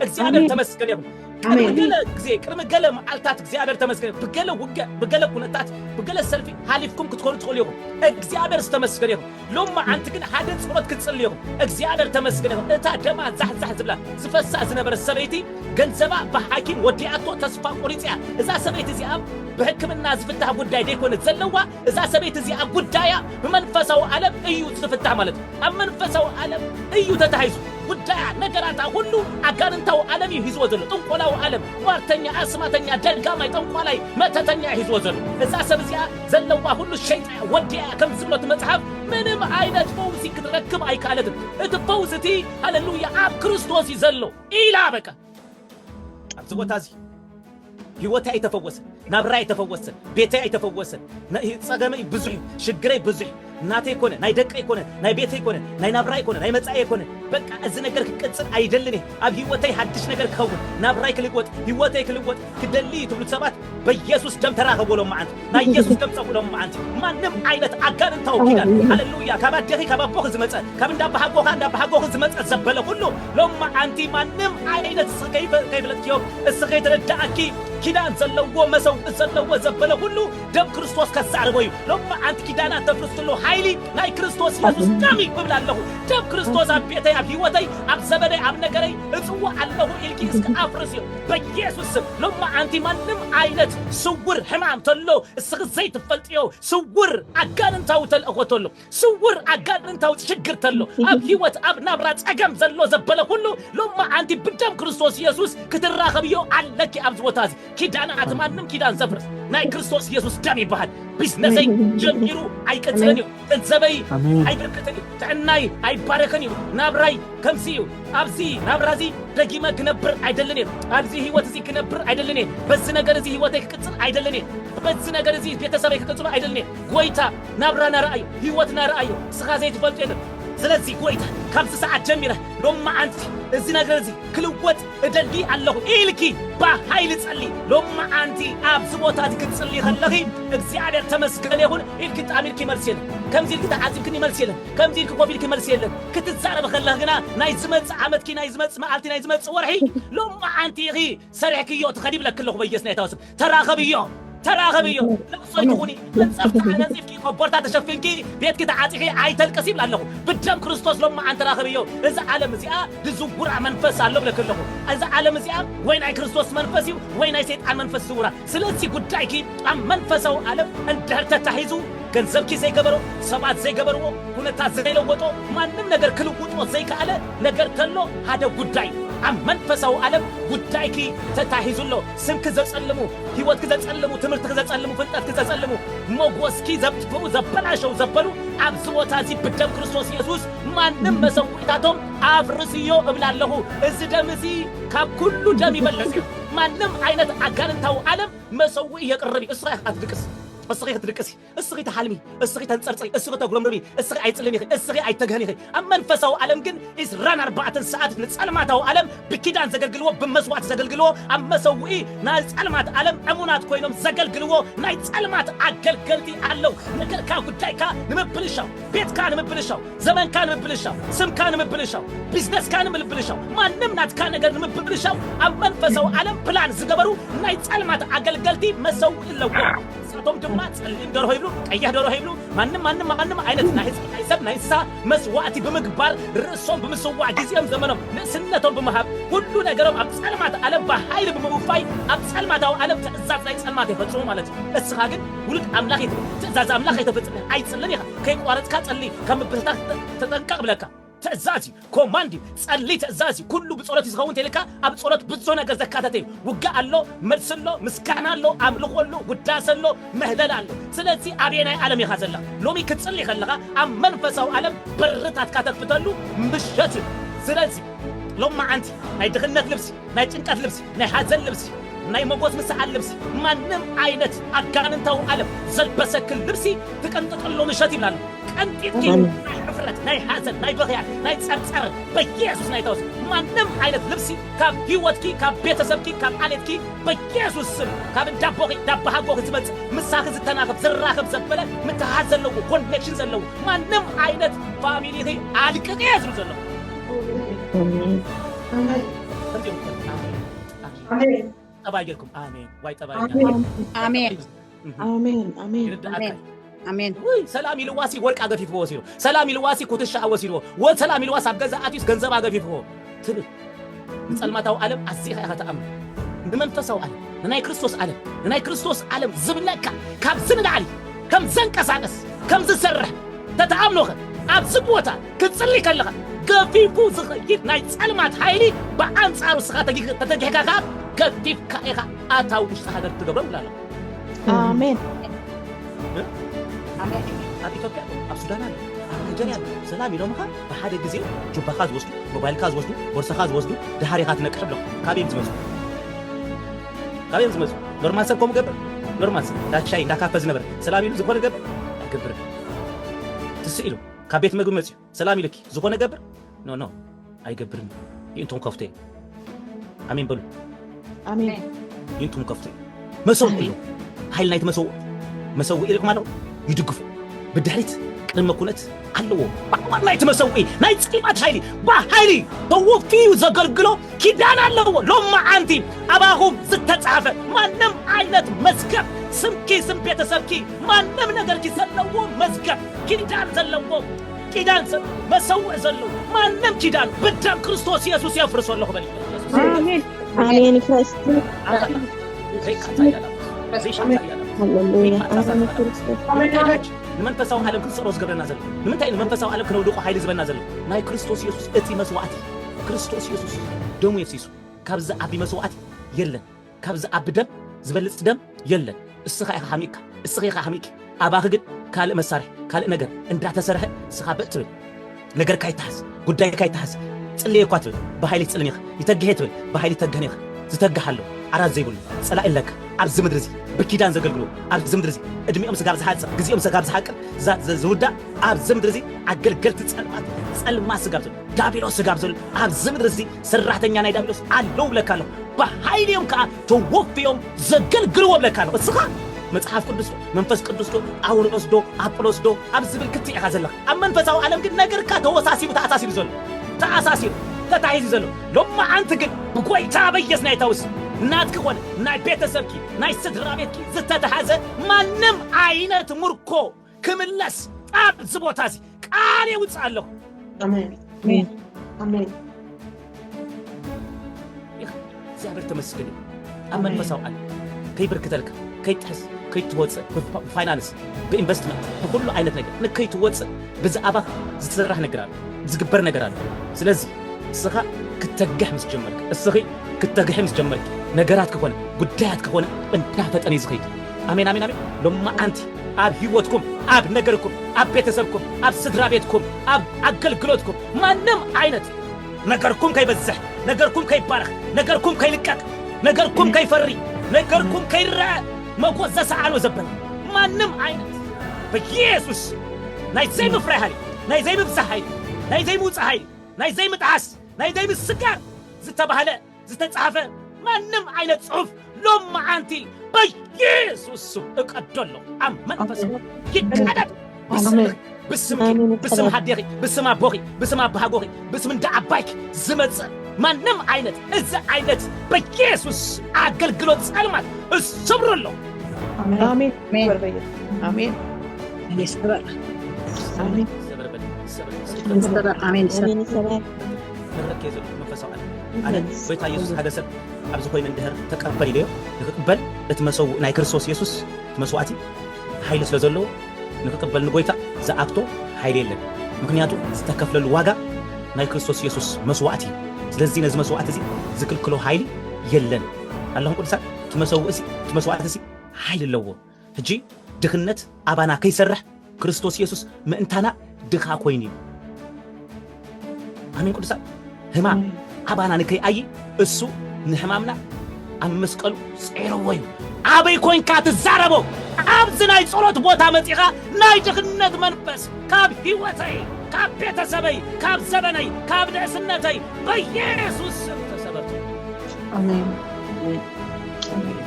እግዚኣብሔር ተመስገን ይኹን። ቅድሚ ገለ ግዜ ቅድሚ ገለ መዓልታት እግዚኣብሔር ተመስገን ይኹን። ብገለ ውግእ ብገለ ኩነታት ብገለ ሰልፊ ሃሊፍኩም ክትኮኑ ትኽእሉ ኢኹም። እግዚኣብሔር ዝተመስገን ይኹን። ሎም መዓንቲ ግን ሓደ ጸሎት ክትጽሊ ኢኹም። እግዚኣብሔር ተመስገን ይኹን። እታ ደማ ዛሕዛሕ ዝብላ ዝፈሳ ዝነበረ ሰበይቲ ገንዘባ ብሓኪም ወዲኣቶ ተስፋ ቆሪጽያ እዛ ሰበይቲ እዚኣ ብሕክምና ዝፍታሕ ጉዳይ ደይኮነት ዘለዋ እዛ ሰበይቲ እዚኣ ጉዳያ ብመንፈሳዊ ዓለም እዩ ዝፍታሕ ማለት እዩ። ኣብ መንፈሳዊ ዓለም እዩ ተታሒዙ ጉዳያ፣ ነገራታ ኩሉ ኣጋንንታዊ ዓለም እዩ ሒዝዎ ዘሎ። ጥንቆላዊ ዓለም፣ ሟርተኛ፣ ኣስማተኛ፣ ደጋማይ፣ ጠንቋላይ፣ መተተኛ እዩ ሒዝዎ ዘሎ። እዛ ሰብ እዚኣ ዘለዋ ኩሉ ሸይጣ እያ፣ ወዲኣ እያ ከም ዝብሎ እቲ መጽሓፍ ምንም ዓይነት ፈውሲ ክትረክብ ኣይከኣለትን። እቲ ፈውሲ እቲ ሃለሉያ ኣብ ክርስቶስ እዩ ዘሎ ኢላ በቃ። ኣብዚ ቦታ እዚ ህይወተይ ኣይተፈወሰን፣ ናብራይ ኣይተፈወሰን፣ ቤተይ ኣይተፈወሰን። ጸገመይ ብዙሕ እዩ፣ ሽግረይ ብዙሕ እዩ። ናተይ ኮነ፣ ናይ ደቀይ ኮነ፣ ናይ ቤተይ ኮነ፣ ናይ ናብራይ ኮነ፣ ናይ መጻእየ ኮነ፣ በቃ እዚ ነገር ክቅጽል ኣይደልን እየ። ኣብ ህይወተይ ሓድሽ ነገር ክኸውን፣ ናብራይ ክልወጥ፣ ህይወተይ ክልወጥ ክደሊ እዩ ትብሉ ሰባት በኢየሱስ ደም ተራኸቦ ሎምዓንቲ ናይ ኢየሱስ ደም ጸፉ ሎምዓንቲ ማንም ዓይነት ኣጋንንታዊ ኪዳን ሃሌሉያ ካብ ኣዴኺ ካብ ኣቦኺ ዝመጸ ካብ እንዳ ኣባሓጎኻ እንዳ ኣባሓጎኺ ዝመጸ ዘበለ ኩሉ ሎምዓንቲ ማንም ዓይነት እስኺ ከይፈ- ከይፈለጥክዮ እስኺ ከይተረዳእኪ ኪዳን ዘለዎ መሰውኢ ዘለዎ ዘበለ ኩሉ ደም ክርስቶስ ከዛርቦ እዩ ሎምዓንቲ ኪዳናት ተፍርሱሉ ሓይሊ ናይ ክርስቶስ ኢየሱስ ደም እዩ እብል ኣለኹ ደም ክርስቶስ ኣብ ቤተይ ኣብ ህይወተይ ኣብ ዘበነይ ኣብ ነገረይ እጽዋዕ ኣለኹ ኢልኪ እስኪ ኣፍርስ እዩ በየሱስ ስም ሎማዓንቲ ማንም ዓይነት ስውር ሕማም ተሎ እስኺ ዘይትፈልጥዮ ስውር ኣጋንንታዊ ተልእኾ ተሎ ስውር ኣጋንንታዊ ሽግር ተሎ ኣብ ሂወት ኣብ ናብራ ጸገም ዘሎ ዘበለ ኩሉ ሎማዓንቲ ብደም ክርስቶስ የሱስ ክትራኸብዮ ኣለኪ ኣብዚ ቦታ እዚ ኪዳን ኣቲ ማንም ኪዳን ዘፍርስ ናይ ክርስቶስ የሱስ ደም ይበሃል ቢዝነሰይ ጀሚሩ ኣይቅጽልን እዩ ገንዘበይ ኣይበርከተን እዩ፣ ጥዕናይ ኣይባረኸን እዩ፣ ናብራይ ከምዚ እዩ፣ ኣብዚ ናብራ እዚ ደጊመ ክነብር ኣይደልን እየ፣ ኣብዚ ህይወት እዚ ክነብር ኣይደልን እየ፣ በዚ ነገር እዚ ህይወተይ ክቅጽል ኣይደልን እየ፣ በዚ ነገር እዚ ቤተሰበይ ክቅጽሉ ኣይደልን እየ። ጐይታ ናብራና ርኣዮ፣ ህይወትና ርኣዮ፣ ንስኻ ዘይትፈልጦ የለን። ስለዚ ጐይታ ካብዚ ሰዓት ጀሚረ ሎሚ መዓንቲ እዚ ነገር እዚ ክልወጥ እደሊ ኣለኹ ኢልኪ ብሓይሊ ጸልዪ። ሎምዓንቲ ኣብዚ ቦታ እዚ ክትጽልዪ ከለኺ እግዚኣብሔር ተመስገን ይኹን ኢልኪ ጣም ኢልኪ መልሲ የለን። ከምዚ ኢልኪ ተዓዚብክኒ መልሲ የለን። ከምዚ ኢልኪ ኮፍ ኢልኪ መልሲ የለን። ክትዛረቢ ከለኺ ግና ናይ ዝመጽእ ዓመትኪ ናይ ዝመጽእ መዓልቲ ናይ ዝመጽእ ወርሒ ሎምዓንቲ ኢኺ ሰሪሕክዮ ትኸዲ ይብለኪ ኣለኹ በየስናይታዊ ስም። ተራኸብዮ ተራኸብዮ ለቕሶ ይኹኒ መንፀፍቲ ኣነፂፍኪ ኮቦርታ ተሸፊንኪ ቤትኪ ተዓፂኺ ኣይተልቅስ ይብል ኣለኹ ብደም ክርስቶስ ሎም መዓን ተራኸብዮ እዚ ዓለም እዚኣ ልዝውራ መንፈስ ኣሎ ብለክ ኣለኹ እዚ ዓለም እዚኣ ወይ ናይ ክርስቶስ መንፈስ እዩ ወይ ናይ ሰይጣን መንፈስ ዝውራ ስለዚ ጉዳይኪ ኣብ መንፈሳዊ ዓለም እንድሕር ተታሒዙ ገንዘብኪ ዘይገበሮ ሰባት ዘይገበርዎ ኩነታት ዘይለወጦ ማንም ነገር ክልውጦ ዘይከኣለ ነገር ተሎ ሓደ ጉዳይ ኣብ መንፈሳዊ ዓለም ጉዳይኪ ተታሒዙ ኣሎ ስምኪ ዘጸልሙ፣ ህይወትኪ ዘጸልሙ፣ ትምህርትኺ ዘጸልሙ፣ ፍልጠትኪ ዘጸልሙ፣ ሞጎስኪ ዘጥፍኡ፣ ዘበላሸው ዘበሉ ኣብዚ ቦታ እዚ ብደም ክርስቶስ የሱስ ማንም መሰውኢታቶም ኣፍርስዮ እብል ኣለኹ። እዚ ደም እዚ ካብ ኩሉ ደም ይበልጽ እዩ። ማንም ዓይነት ኣጋንንታዊ ዓለም መሰውኢ የቅርብ እዩ። እስኻ ኢኻ ክትድቅስ እስኺ ክትድቅሲ። እስኺ ትሓልሚ፣ እስኺ ተንጸርጽሪ፣ እስኺ ተጉረምርሚ፣ እስኺ ኣይትጽልሚ ኢኺ፣ እስኺ ኣይትተግህኒ ኢኺ። ኣብ መንፈሳዊ ዓለም ግን ዕስራን ኣርባዕተን ሰዓት ንጸልማታዊ ዓለም ብኪዳን ዘገልግልዎ፣ ብመስዋእቲ ዘገልግልዎ፣ ኣብ መሰውኢ ናይ ጸልማት ዓለም ዕሙናት ኮይኖም ዘገልግልዎ ናይ ጸልማት ኣገልገልቲ ኣለው። ነገርካ ጉዳይካ ንምብልሻው፣ ቤትካ ንምብልሻው፣ ዘመንካ ንምብልሻው፣ ስምካ ንምብልሻው፣ ቢዝነስካ ንምልብልሻው፣ ማንም ናትካ ነገር ንምብልሻው ኣብ መንፈሳዊ ዓለም ፕላን ዝገበሩ ናይ ጸልማት ኣገልገልቲ መሰውኢ ኣለዎም። ንሳቶም ድማ ጸሊም ደርሆ ይብሉ፣ ቀያሕ ደርሆ ይብሉ፣ ማንም ማንም ማንም ዓይነት ናይ ህዝቢ ናይ ሰብ ናይ እንስሳ መስዋእቲ ብምግባር ርእሶም ብምስዋዕ ግዜኦም ዘመኖም ንእስነቶም ብምሃብ ኩሉ ነገሮም ኣብ ጸልማት ዓለም ብሓይሊ ብምውፋይ ኣብ ጸልማታዊ ዓለም ትእዛዝ ናይ ጸልማት የፈጽሙ ማለት እዩ። እስኻ ግን ውሉድ ኣምላኽ ኢኻ፣ ትእዛዝ ኣምላኽ ከይተፈጽም ኣይትጽልን ኢኻ፣ ከይቋረጽካ ጸሊ፣ ካብ ምብትታን ተጠንቀቕ እብለካ። ትእዛዝ እዩ ኮማንድ እዩ ጸሊ ትእዛዝ እዩ ኩሉ ብጸሎት እዩ ዝኸውን ተልካ ኣብ ጸሎት ብዙ ነገር ዘካተተ እዩ ውግእ ኣሎ መልሲ ኣሎ ምስጋና ኣሎ ኣምልኾ ኣሎ ውዳሰ ኣሎ ምህለላ ኣሎ ስለዚ ኣበየናይ ዓለም ኢኻ ዘላ ሎሚ ክትጽሊ ከለኻ ኣብ መንፈሳዊ ዓለም በርታትካ ተክፍተሉ ምሸት እዩ ስለዚ ሎም መዓንቲ ናይ ድኽነት ልብሲ ናይ ጭንቀት ልብሲ፣ ናይ ሓዘን ልብሲ፣ ናይ መጎት ምሰኣል ልብሲ፣ ማንም ዓይነት ኣጋንንታዊ ዓለም ዘልበሰክን ልብሲ ትቅንጥጥሉ ምሸት ይብላ ኣለኹ። ቀንጢጥኪ ኣሜን። ናይ ሕፍረት፣ ናይ ሓዘን፣ ናይ ብኽያት፣ ናይ ጸርጸር በኢየሱስ ናይ ተወስ ማንም ዓይነት ልብሲ ካብ ህይወትኪ፣ ካብ ቤተሰብኪ፣ ካብ ዓሌትኪ በኢየሱስ ስም ካብ እንዳቦኺ እንዳባሃጎኺ ዝመጽእ ምሳኺ ዝተናኽብ ዝራኸብ ዘበለ ምትሕሓዝ ዘለዎ ኮኔክሽን ዘለዎ ማንም ዓይነት ፋሚሊኺ ኣልቅቄ ዝብል ዘለኹ ኣሜን። ሰላም ኢልዋሲ ወርቂ ኣገፊፍዎ ወሲዶ ሰላም ኢልዋሲ ኩትሻ ወሲድዎ ሰላም ኢልዋስ ኣብ ገዛ ኣትዩስ ገንዘብ ኣገፊፍዎ ትብል ንፀልማታዊ ዓለም ኣዚኻ ኢኻ ተኣምን ንመንፈሳዊ ዓለም ንናይ ክርስቶስ ዓለም ንናይ ክርስቶስ ዓለም ዝብለካ ካብዚ ንላዕሊ ከም ዘንቀሳቀስ ከም ዝሰርሕ ተተኣምኖኸ ኣብዚ ቦታ ክትጽሊ ከለኻ ገፊፉ ዝኸይድ ናይ ጸልማት ሓይሊ ብኣንጻሩ እስኻ ተተጊህካ ከኣ ገፊፍካ ኢኻ ኣታ ውሽጢ ሃገር ትገብሮ ይብላ ኣሎ ኣሜን ኣብ ኢትዮጵያ ኣብ ሱዳን ኣሎ ኣብ ናይጀርያ ኣሎ ሰላም ኢሎምኻ ብሓደ ግዜ ጁባኻ ዝወስዱ ሞባይልካ ዝወስዱ ቦርሳኻ ዝወስዱ ድሃር ኢኻ ትነቅሕ ብሎም ካበይ እዮም ዝመፁ ካበይ እዮም ዝመፁ ኖርማል ሰብ ከምኡ ገብር ኖርማል ሰብ እንዳሻይ እንዳካፈ ዝነበረ ሰላም ኢሉ ዝኾነ ገብር ኣይገብርን ትስኢሉ ካብ ቤት መግቢ መጺኡ ሰላም ኢሉኪ ዝኾነ ገብር ን ን ኣይገብርን ይእንቱም ከፍቶየ ኣሜን በሉ ኣሜን ይእንቱም ከፍቶየ መሰው ኢሉ ኃይል ናይቲ መሰው መሰው ኢሪኩም ኣለዉ ይድግፉ ብድሕሪት ቅድመ ኩነት ኣለዎ ባዕዋር ናይቲ መሰውኢ ናይ ጽቂማት ሓይሊ ብሓይሊ ተወፍዩ ዘገልግሎ ኪዳን ኣለዎ ሎም መዓንቲ ኣባኹም ዝተጻሕፈ ማንም ዓይነት መዝገብ ስምኪ ስም ቤተሰብኪ ማንም ነገርኪ ዘለዎ መዝገብ ኪዳን ዘለዎ ኪዳን ሰብ መሰውዕ ዘለዎ ማንም ኪዳን ብደም ክርስቶስ ኢየሱስ የፍርሶ ኣለኹ በል ኣሜን ኣሜን ክርስት ንመንፈሳዊ ዓለም ክንስዕሮ ዝገብረና ዘሎ ንምንታይ ንመንፈሳዊ ዓለም ክነውድቆ ሓይሊ ዝበና ዘሎ ናይ ክርስቶስ ኢየሱስ እቲ መስዋዕቲ ክርስቶስ ኢየሱስ ደሙ የፍሲሱ ካብዚ ዓቢ መስዋዕቲ የለን ካብ ዝኣቢ ደም ዝበልጽ ደም የለን እስኻ ኢኻ ሃሚእካ እስኺ ኢኻ ሃሚእኪ ኣባኺ ግን ካልእ መሳርሒ ካልእ ነገር እንዳተሰርሐ እስኻ በእ ትብል ነገርካ ይተሓዝ ጉዳይካ ይተሓዝ ጽልየ እኳ ትብል ብሃይሊ ትጽልን ኢኻ ይተግሔ ትብል ብሃይሊ ይተግህን ኢኻ ዝተግህ ኣሎ ዓራት ዘይብሉ ጸላኢ ኣለካ ኣብዚ ምድሪ እዚ ብኪዳን ዘገልግሉ ኣብዚ ምድሪ እዚ እድሜኦም ስጋብ ዝሓጽር ግዜኦም ስጋብ ዝሓቅር ዝውዳእ ኣብዚ ምድሪ እዚ ኣገልገልቲ ጸልማት ጸልማት ስጋብ ዳቢሎስ ስጋብ ዘሎ ኣብዚ ምድሪ እዚ ሰራሕተኛ ናይ ዳቢሎስ ኣለዉ ብለካ ኣለኹ ብሓይሊ እዮም ከዓ ተወፍዮም ዘገልግልዎ ብለካ ኣለኹ እስኻ መጽሓፍ ቅዱስ ዶ መንፈስ ቅዱስ ዶ ጳውሎስ ዶ ኣጵሎስ ዶ ኣብ ዝብል ክትዕ ኢኻ ዘለኻ ኣብ መንፈሳዊ ዓለም ግን ነገርካ ተወሳሲቡ ተኣሳሲሩ ዘሎ ተኣሳሲሩ ተታሒዙ ዘሎ ሎማዓንቲ ግን ብጎይታ በየስ ናይ ታውስ ናትኪ ኮነ ናይ ቤተሰብኪ ናይ ስድራ ቤትኪ ዝተታሓዘ ማንም ዓይነት ምርኮ ክምለስ ኣብ እዚ ቦታ እዚ ቃል የውፅእ ኣለኹ። እግዚኣብሔር ተመስገን እዩ ኣብ መንፈሳዊ ዓለም ከይብርክተልካ ከይጥሕስ ከይትወፅእ ብፋይናንስ ብኢንቨስትመንት ብኩሉ ዓይነት ነገር ንከይትወፅእ ብዛዕባ ዝስራሕ ነገር ኣሎ ዝግበር ነገር ኣሎ ስለዚ እስኻ ክተግሕ ምስ ጀመርክ እስኺ ክተግሒ ምስ ጀመርክ ነገራት ከኾነ ጉዳያት ከኾነ እንዳፈጠነ እዩ ዝኸይድ ኣሜን ኣሜን ኣሜን ሎማዓንቲ ኣብ ሂወትኩም ኣብ ነገርኩም ኣብ ቤተሰብኩም ኣብ ስድራቤትኩም ኣብ ኣገልግሎትኩም ማንም ዓይነት ነገርኩም ከይበዝሕ ነገርኩም ከይባረኽ ነገርኩም ከይልቀቅ ነገርኩም ከይፈሪ ነገርኩም ከይረኣ መጎት ዘሰዓኖ ዘበለ ማንም ዓይነት በኢየሱስ ናይ ዘይምፍራይ ሃይሊ ናይ ዘይምብዛሕ ሃይሊ ናይ ዘይምውፃእ ሃይሊ ናይ ዘይምጥዓስ ናይ ዘይምስጋር ዝተባህለ ዝተጻሕፈ ማንም ዓይነት ጽሑፍ ሎም መዓንቲ በየሱስ ስም እቀዶ ኣሎ ኣብ መንፈስ ይቀደድ ብስምኽ ብስምኪ ብስም ሃዴኺ ብስም ኣቦኺ ብስም ኣባሃጎኺ ብስም እንዳ ዓባይኪ ዝመጽእ ማንም ዓይነት እዚ ዓይነት በየሱስ ኣገልግሎት ጸልማት እሰብሮ ኣሎ ኣሜን ኣሜን ይሰበር ኣሜን ይሰበር ኣሜን ይሰበር ዝትረክ እየ ዘለኹ መንፈሳዊ ዓለም ኣነ ጎይታ ኢየሱስ ሓደ ሰብ ኣብዚ ኮይኑ እንድህር ተቀበል ኢለዮ ንክቅበል እቲ መሰው ናይ ክርስቶስ ኢየሱስ እቲ መስዋዕቲ ሓይሊ ስለ ዘለዎ ንክቅበል ንጎይታ ዝኣክቶ ሓይሊ የለን ምክንያቱ ዝተከፍለሉ ዋጋ ናይ ክርስቶስ ኢየሱስ መስዋዕቲ እዩ ስለዚ ነዚ መስዋዕቲ እዚ ዝክልክሎ ሓይሊ የለን ኣለኹም ቅዱሳን እቲ መሰውእ እቲ መስዋዕቲ እዚ ሓይሊ ኣለዎ ሕጂ ድኽነት ኣባና ከይሰርሕ ክርስቶስ የሱስ ምእንታና ድኻ ኮይኑ እዩ። ኣሜን ቅዱሳን። ህማም ኣባና ንከይኣዪ እሱ ንሕማምና ኣብ መስቀሉ ጼርዎ እዩ። ኣበይ ኮንካ ትዛረቦ ኣብዚ ናይ ጸሎት ቦታ መጺኻ ናይ ድኽነት መንፈስ ካብ ህይወተይ ካብ ቤተሰበይ ካብ ዘበነይ ካብ ንእስነተይ በየሱስ ስም ተሰበርቱ። ኣሜን። ኣሜን።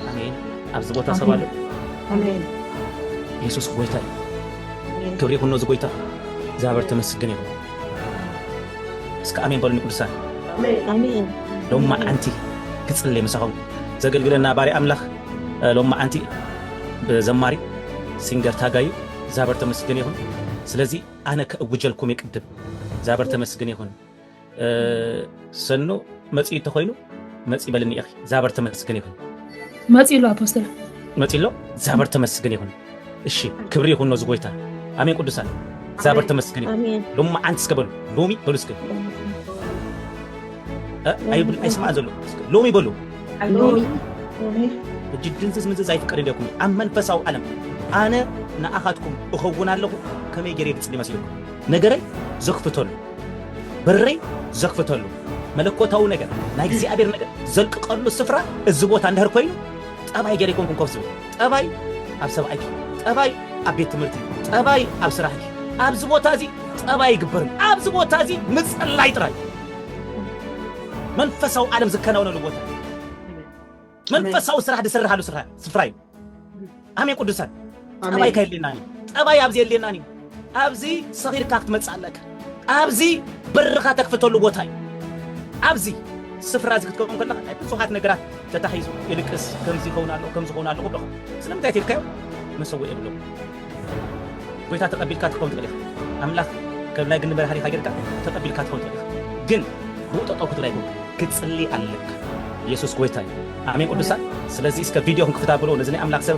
ኣሜን። ኣብዚ ቦታ ሰብ ኣሎ የሱስ ጎይታ እዩ ክብሪ ይኹኖ እዚ ጎይታ እግዚኣብሔር ተመስግን ይኹን እስከ ኣሜን በሉኒ ቅዱሳን ሎም መዓንቲ ክጽልይ ምሳኹም ዘገልግለና ባሪ ኣምላኽ ሎም መዓንቲ ብዘማሪ ሲንገር ታጋዩ እግዚኣብሔር ተመስግን ይኹን ስለዚ ኣነ ከእውጀልኩም ይቅድም እግዚኣብሔር ተመስግን ይኹን ሰኑ መፂ እንተኮይኑ መፂ በልኒ ኢኺ ዛበር ተመስግን ይኹን መፂ ኣሎ ኣፖስተል መፂ ኣሎ ዛበር ተመስግን ይኹን እሺ ክብሪ ይኹን ነዚ ጎይታ ኣሜን ቅዱሳን ዛበር ተመስግን ይኹን ሎሚ መዓንቲ እስከ በሉ ሎሚ በሉ እስከ ኣይብል ኣይስማዕ ዘሎ ሎሚ በሉ እጅ ድንዝዝ ምንዝዝ ኣይፍቀድ እንዲኩም ኣብ መንፈሳዊ ዓለም ኣነ ንኣኻትኩም እኸውን ኣለኹ ከመይ ገይረ ይብፅል ይመስልኩም ነገረይ ዘኽፍተሉ በረይ ዘኽፍተሉ መለኮታዊ ነገር ናይ እግዚኣብሔር ነገር ዘልቅቀሉ ስፍራ እዚ ቦታ እንድሕር ኮይኑ ጠባይ ገይረ ኣይኮንኩን ኮፍ ዝብል ጠባይ ኣብ ሰብኣይኪ ጠባይ ኣብ ቤት ትምህርቲ ጠባይ ኣብ ስራሕኪ ኣብዚ ቦታ እዚ ጠባይ ይግበርም ኣብዚ ቦታ እዚ ምፅላይ ጥራይ መንፈሳዊ ዓለም ዝከናወነሉ ቦታ መንፈሳዊ ስራሕ ዝስርሓሉ ስፍራ እዩ። ኣሜን ቅዱሳን ጠባይ ከየድልየና ጠባይ ኣብዚ የድልየናን እዩ። ኣብዚ ሰኺርካ ክትመፅእ ኣለካ። ኣብዚ በርኻ ተክፍተሉ ቦታ እዩ። ኣብዚ ስፍራ እዚ ክትከውን ከለካ ናይ ብዙሓት ነገራት ተታሒዙ ይልቅስ ከምዚ ይኸውን ኣለዎ ከምዚ ይኸውን ኣለዎ ብለኹ ስለምንታይ ትልካዮ መሰወ የብሎም ጎይታ ተቀቢልካ ትከውን ትክእል ኢካ ኣምላክ ከም ናይ ግኒ መድሃኒካ ገርካ ተቀቢልካ ትከውን ትክእል ኢካ ግን ብኡ ጠጠው ክትብል ኣይኮንካ ክትጽሊ ኣለካ የሱስ ጎይታ እዩ ኣሜን ቅዱሳን ስለዚ እስከ ቪድዮ ክንክፍት ኣብሎ ነዚ ናይ ኣምላክ ሰብ